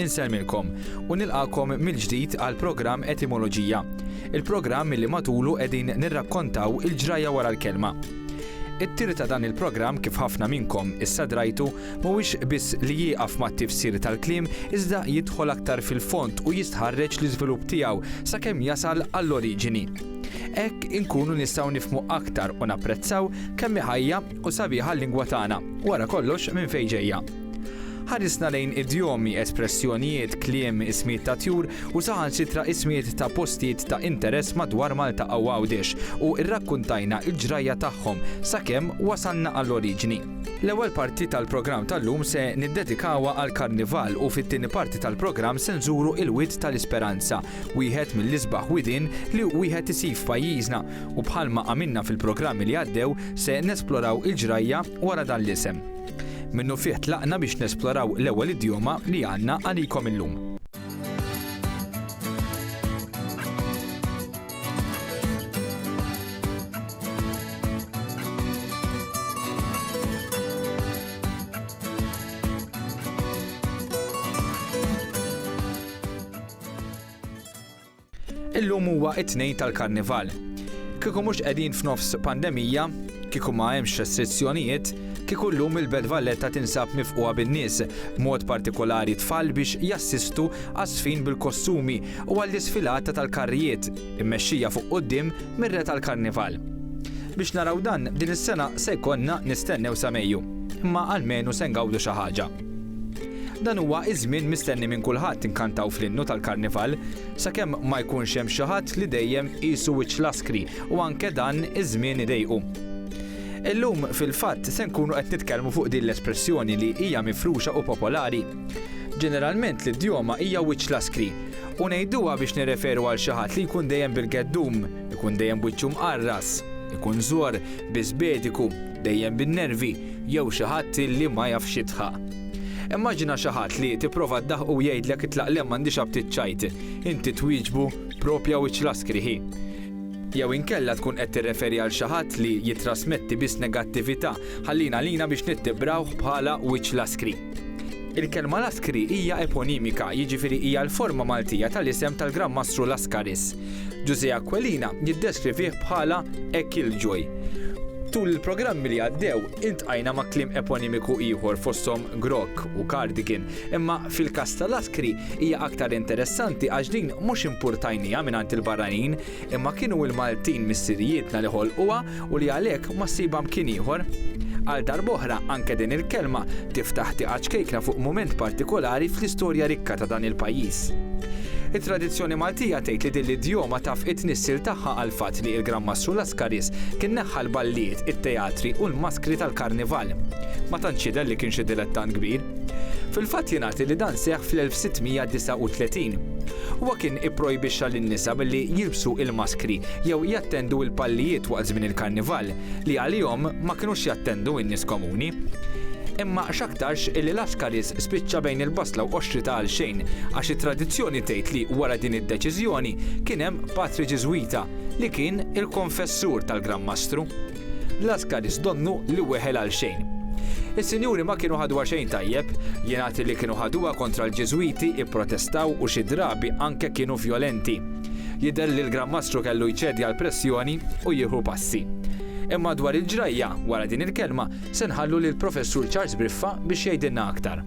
Insemmilkom u nilqakom mill-ġdid għal programm Etimoloġija. Il-programm li matulu qegħdin nirrakkontaw il-ġrajja wara l-kelma. It-tir ta' dan il-programm kif ħafna minnkom issa drajtu mhuwiex biss li jieqaf mat-tifsir tal-kliem iżda jidħol aktar fil-fond u jistħarreġ l-iżvilupp tiegħu sakemm jasal għall-oriġini. Hekk inkunu nistgħu nifhmu aktar u napprezzaw kemm hi ħajja u sabiħa l-lingwa tagħna, wara kollox minn fejn ġejja. Ħarisna lejn idjomi, espressjonijiet, kliem, ismijiet ta' tjur u saħansitra ismijiet ta' postijiet ta' interess madwar Malta u Għawdex u rrakkuntajna l-ġrajja tagħhom sakemm wasalna għall-oriġini. L-ewwel parti tal-programm tal-lum se niddedikawha għall-Karnival u fit-tieni parti tal-programm se nżuru il-Wied tal-Isperanza wieħed mill-isbaħ widien li wieħed isib f'pajjiżna u bħalma għamilna fil-programmi li għaddew se nesploraw il-ġrajja wara dan l-isem. Minnufih tlaqna biex nesploraw l-ewwel idjoma li għandna għalikom illum. Illum huwa it-tnejn tal-Karnival. Kieku mhux qegħdin f'nofs pandemija, kieku ma hemmx restrizzjonijiet, kieku llum il-Belt Valletta tinsab mifqugħa bin-nies, b'mod partikolari tfal biex jassistu għaż-żfin bil-kostumi u għall-isfilata tal-karrijiet, immexxija fuq quddiem mir-Re tal-Karnival. Biex naraw dan, din is-sena se jkollna nistennew sa Mejju. Imma almenu se ngawdu xi ħaġa. Dan huwa iż-żmien mistenni minn kulħadd inkantaw fl-innu tal-Karnival, sakemm ma jkunx hemm xi ħadd li dejjem qisu wiċċ l-askri u anke dan iż-żmien idejqu. Illum, fil-fatt, se nkunu qed nitkellmu fuq din l-espressjoni li hija mifruxa u popolari. Ġeneralment l-idjoma hija wiċċ l-askri, u ngħiduha biex nirreferu għal xi ħadd li jkun dejjem bil-geddum, ikun dejjem b'wiċċu mqarras, ikun żor, biżbediku, dejjem bin-nervi jew xi ħadd li ma jafx jidħaq. Immaġina xi ħadd li tipprova ddaħħqu jgħidlek itlaq le m'għandix aptit ċajt, inti twieġbu propja wiċċ laskri hi. Jew inkella tkun qed tirreferi għal xi ħadd li jittrasmetti biss negattività, ħallina għalina biex nittibrawh bħala wiċċ laskri. Il-kelma Laskri hija eponimika, jiġifieri hija l-forma Maltija tal-isem tal-Gran Mastru Laskaris. Ġużè Aquilina jiddeskrivih bħala a killjoy. Tul il-programmi li għaddew, iltqajna ma' kliem eponimiku ieħor fosthom grog u cardigan, imma fil-każ ta' Laskri hija aktar interessanti għax din mhux impurtajnieha mingħand il-barranin, Imma kienu l-Maltin missirijietna li ħolquha u li għalhekk ma ssibha mkien ieħor. Għal darb'oħra, anke din il-kelma tiftaħ tieqa ċkejkna fuq mument partikolari fl-istorja rikka ta' dan il-pajjiż. It-tradizzjoni Maltija tgħid li din l-idjoma taf it-tnissil tagħha għall-fatt li il-Gran Mastru Lascaris kien neħħa l-balliet, it-teatri u l-maskri tal-karnival. Ma tantx jidher li kien xi dilettant kbir. Fil-fatt jingħad li dan seħħ fl-1639. Huwa kien ipprojbixxa lin-nisa milli jilbsu l-maskri jew jattendu l-pallijiet waqt żmien il-Karnival, li għalihom ma kinux jattendu n-nies komuni. Imma x'aktarx illi Lascaris spiċċa bejn il-basla u qoxri ta' għalxejn għax it-tradizzjoni tgħid li wara din id-deċiżjoni kien hemm patri Ġiżwita li kien il-konfessur tal-Gran Mastru. L-għaskaris donnu li weħel għalxejn. Is-sinjuri ma kienu ħaduha xejn tajjeb. Jingħad li kienu ħaduha kontra l-Ġiżwiti, ipprotestaw u xi drabi anke kienu vjolenti. Jidher li l-Gran Mastru kellu jċedi għall-pressjoni u jieħu passi. Imma dwar il-ġrajja wara din il-kelma se nħallu lill-Professur Charles Briffa biex jgħidilna aktar.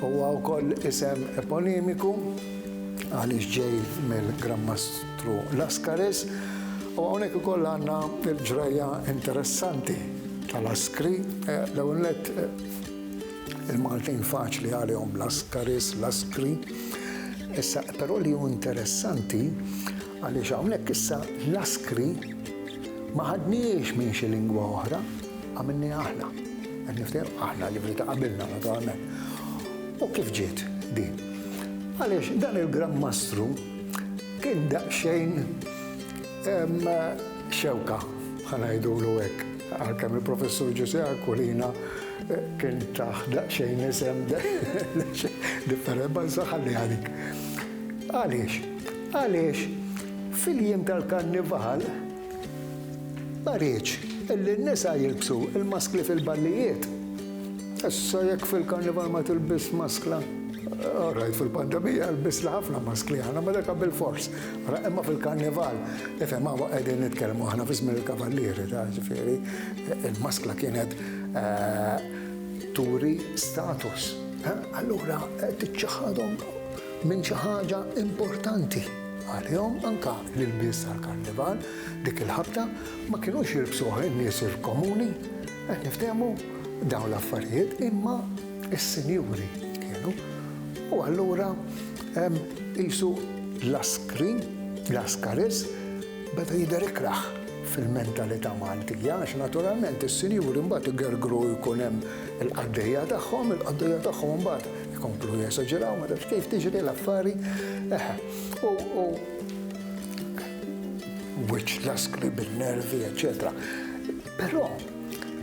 Huwa wkoll isem eponimiku għaliex ġej mill-Gran Mastru Lascaris u hawnhekk ukoll għandna l-ġrajja interessanti tal-Askri. L-ewwel nett il-Maltin faċli għalihom Lascaris, Laskri. Issa però li hu interessanti għaliex hawnhekk issa Laskri ma ħadnihiex minn xi lingwa oħra, Għamilniha aħna. Qed niftehmu aħna li bdiet qabilna naturalment. U kif ġiet din? Għaliex dan il-Gran Mastru kien daqsxejn xewka ħanajdulu hekk. Għalkemm il-Professur Ġuse Aquilina eh, kien taħ daqsxejn isem differenti ma nsaħalli għalik. Għaliex? Għaliex fil-jiem tal-karnival Taħriġ, Illi n-nisa jilbsu l-maskli fil-ballijiet. Issa jekk fil-karnival ma tilbisx maskla, all right, fil-pandemija lbisna ħafna maskli aħna, ma daka bilfors. Ara, imma fil-karnival, ifhem hawn qegħdin nitkellmu aħna fi żmien il-kavallieri, taf ġifieri, il-maskla kienet turi status. Allura tiċċaħħadhom minn xi ħaġa importanti. Għalihom anke l-ilbies tal-Karnival dik il-ħabta ma kinux jilbsuha n-nies il-komuni. Qed niftehmu dawn l-affarijiet imma s-sinjuri kienu. U allura qisu l-askri, l-askaris beda jidher ikrah fil-mentalità Maltija għax naturalment is-sinjuri mbagħad igergru jkun hemm il-qaddejja tagħhom, il-qaddejja tagħhom imbagħad Ikomplu jesaġeraw ma tafx kif tiġri l-affari. Eħe. U u wiċċ laskri bin-nervi, eċċetera. Però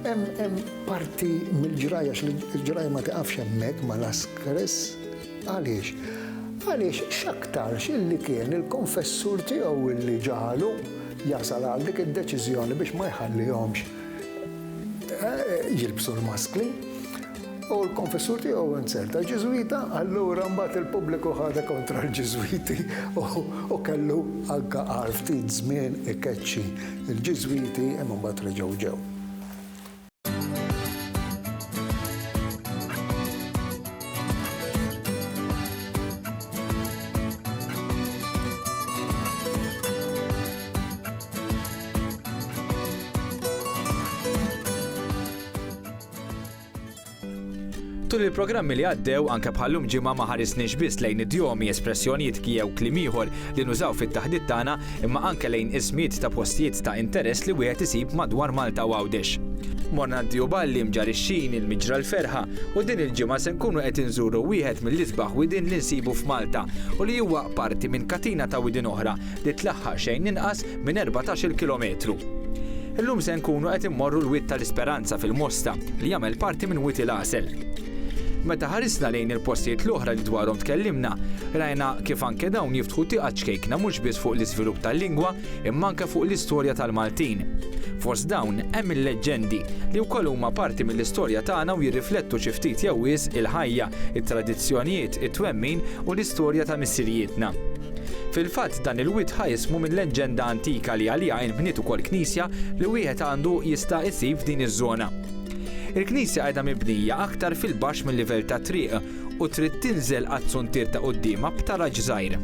hemm hemm parti mill-ġrajja l-ġrajja ma tiqafx hemmhekk ma laskres għaliex għaliex x'aktarx illi kien il-konfessur tiegħu illi ġalu jasal għal dik id-deċiżjoni biex ma jħallihomx eh, jilbsu l-maskli. U l-konfessur tiegħu Wenzel ta' Ġiżwita, allura mbagħad il-pubbliku ħadha kontra l-Ġiżwiti u kellu anke għal ftit żmien ikeċċi l-Ġiżwiti imma mbagħad reġgħu ġew. Tul il-programmi li għaddew, anke bħallum ġimgħa ma ħarisniex biss lejn idjomi, espressjonijiet jew kliem ieħor li nużaw fit-taħdit tagħna, imma anke lejn ismijiet ta' postijiet ta' interess li wieħed isib madwar Malta u Għawdex. Morna Diew Balli, Mġarr ix-Xini, l-Miġra l-Ferħa u din il-ġimgħa se nkunu qed inżuru wieħed mill-isbaħ widien li nsibu f'Malta u li huwa parti minn katina ta' widien oħra li tlaħħaq xejn inqas minn erbatax-il kilometru. Illum se nkunu qed immorru l-Wied tal-Isperanza fil-Mosta, li jagħmel parti minn Wied il-Għasel. Meta ħarisna lejn il-postijiet l-oħra li dwarhom tkellimna, rajna kif anke dawn jiftħu tieqa ċkejkna mhux biss fuq l-iżvilupp tal-lingwa imma anke fuq l-istorja tal-Maltin. Fost dawn hemm il-leġġendi, li wkoll huma parti mill-istorja tagħna u jirriflettu xi ftit jew wisq il-ħajja, it-tradizzjonijiet, it-twemmin u l-istorja ta' missirijietna. Fil-fatt dan il-wied ħa ismu minn leġġenda antika li għaliha inbniet ukoll knisja li wieħed għandu jista' isib f'din iż-żona. Il-knisja qiegħda mibnija aktar fil-baxx mil-livell tat-triq u trid tinżel għat-tsuntier ta' quddiemha b'taraġ żgħir.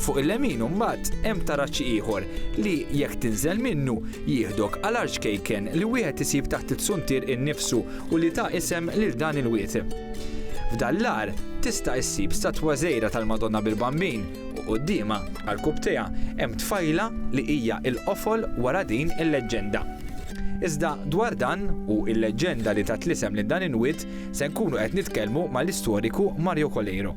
Fuq il-lemin imbagħad hemm taraġ ieħor li jekk tinżel minnu jieħdok għal arċkejken li wieħed isib taħt it-tsuntier innifsu u li ta isem lil dan il-wied. F'dan l-għar tista' issib statwa żgħira tal-Madonna bil-Bambin u quddiemha, għarkupptejha, hemm tfajla li hija l-qofol wara din il-leġġenda. Iżda dwar dan u l-leġġenda li tat l-isem lil dan il-wied se nkunu qed nitkellmu mal-istoriku Mario Coleiro.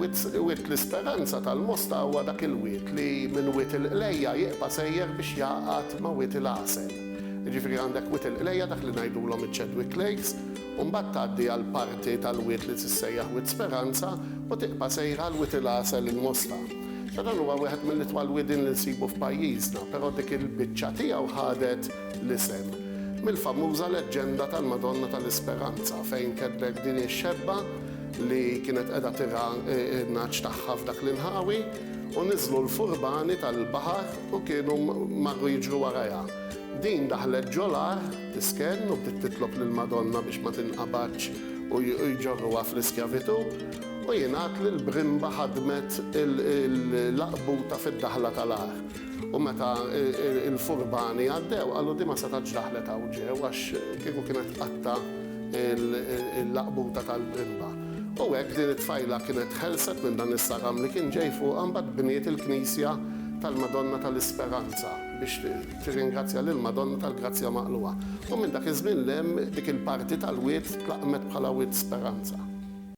Wied l-isperanza tal-Mosta huwa dak il-wied li minn Wied il-Qlejja jibqa' sejjer biex jgħaqad ma' Wied il-Għasel. Jiġifieri għandek Wied il-Qlejja dak li ngħidulhom iċ-Chadwick Lakes u mbagħad tgħaddi għal parti tal-wied li tissejjaħ Wied Speranza u tibqa' sejra għal Wied il-Għasel il-Mosta. Dan huwa wieħed mill-itwal wiedien li nsibu f'pajjiżna, però dik il-biċċa tiegħu ħadet l-isem mill-famuża leġġenda tal-Madonna tal-Isperanza fejn ketbet din ix-xebba li kienet qiegħda tirgħa n-nagħaġ tagħha f'dak l-inħawi u niżlu l-furbani tal-baħar u kienu marru jiġru warajha. Din daħlet ġol-għar tiskenn u bdiet titlob lill-Madonna biex ma tinqabadx u jġorruha fl-iskjavitu u jingħad li l-brimba ħadmet il-laqbuta fid-daħla tal-għar. U meta l-furbani għaddew, qalu, Di ma setgħatx daħlet hawn ġew, għax kieku kienet tqatta' l-laqbuta tal-brimba. U hekk din it-tfajla kienet ħelset minn dan is-saram li kien ġej fuqha, mbagħad bniet il-knisja tal-Madonna tal-Isperanza biex tirringrazzja lill-Madonna tal-Grazzja Maqlugħa. U minn dak iż-żmien 'l hemm dik il-parti tal-wied tlaqmet bħala Wied Speranza.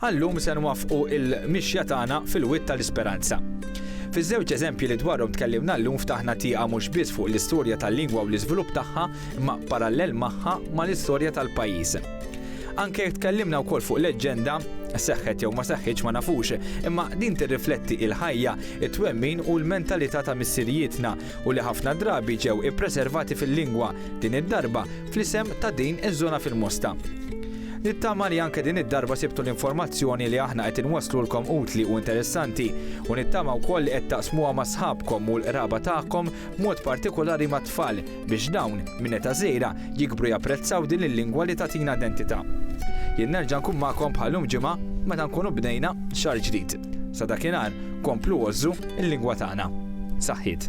Għal-lum se nwaffqu l-mixja tagħna fil-wied tal-isperanza. Fiż-żewġ eżempji li dwarhom tkellimna llum ftaħna tieqa mhux biss fuq l-istorja tal-lingwa u l-iżvilupp tagħha imma, parallel magħha, mal-istorja tal-pajjiż. Anke jekk tkellimna wkoll fuq leġġenda, seħħet jew ma seħħitx ma nafux, imma din tirrifletti il-ħajja, it-twemmin u l-mentalità ta' missirijietna u li ħafna drabi ġew ippreservati fil-lingwa, din id-darba, fl-isem ta' din iż-żona fil-Mosta. Nittama li anke din id-darba sibtu l-informazzjoni li aħna qed inwasslulkom utli u interessanti u nittama wkoll li qed taqsmuha ma' sħabkom u l-qraba tagħkom b'mod partikulari mat-tfal biex dawn, minn età żgħira, jikbru japprezzaw din il-lingwa li tagħtina identità. Jien nerġa' nkun magħkom bħal lum ġimgħa meta nkunu bdejna xahar ġdid. Sa dakinhar, komplu għożżu l-lingwa tagħna. Saħħiet.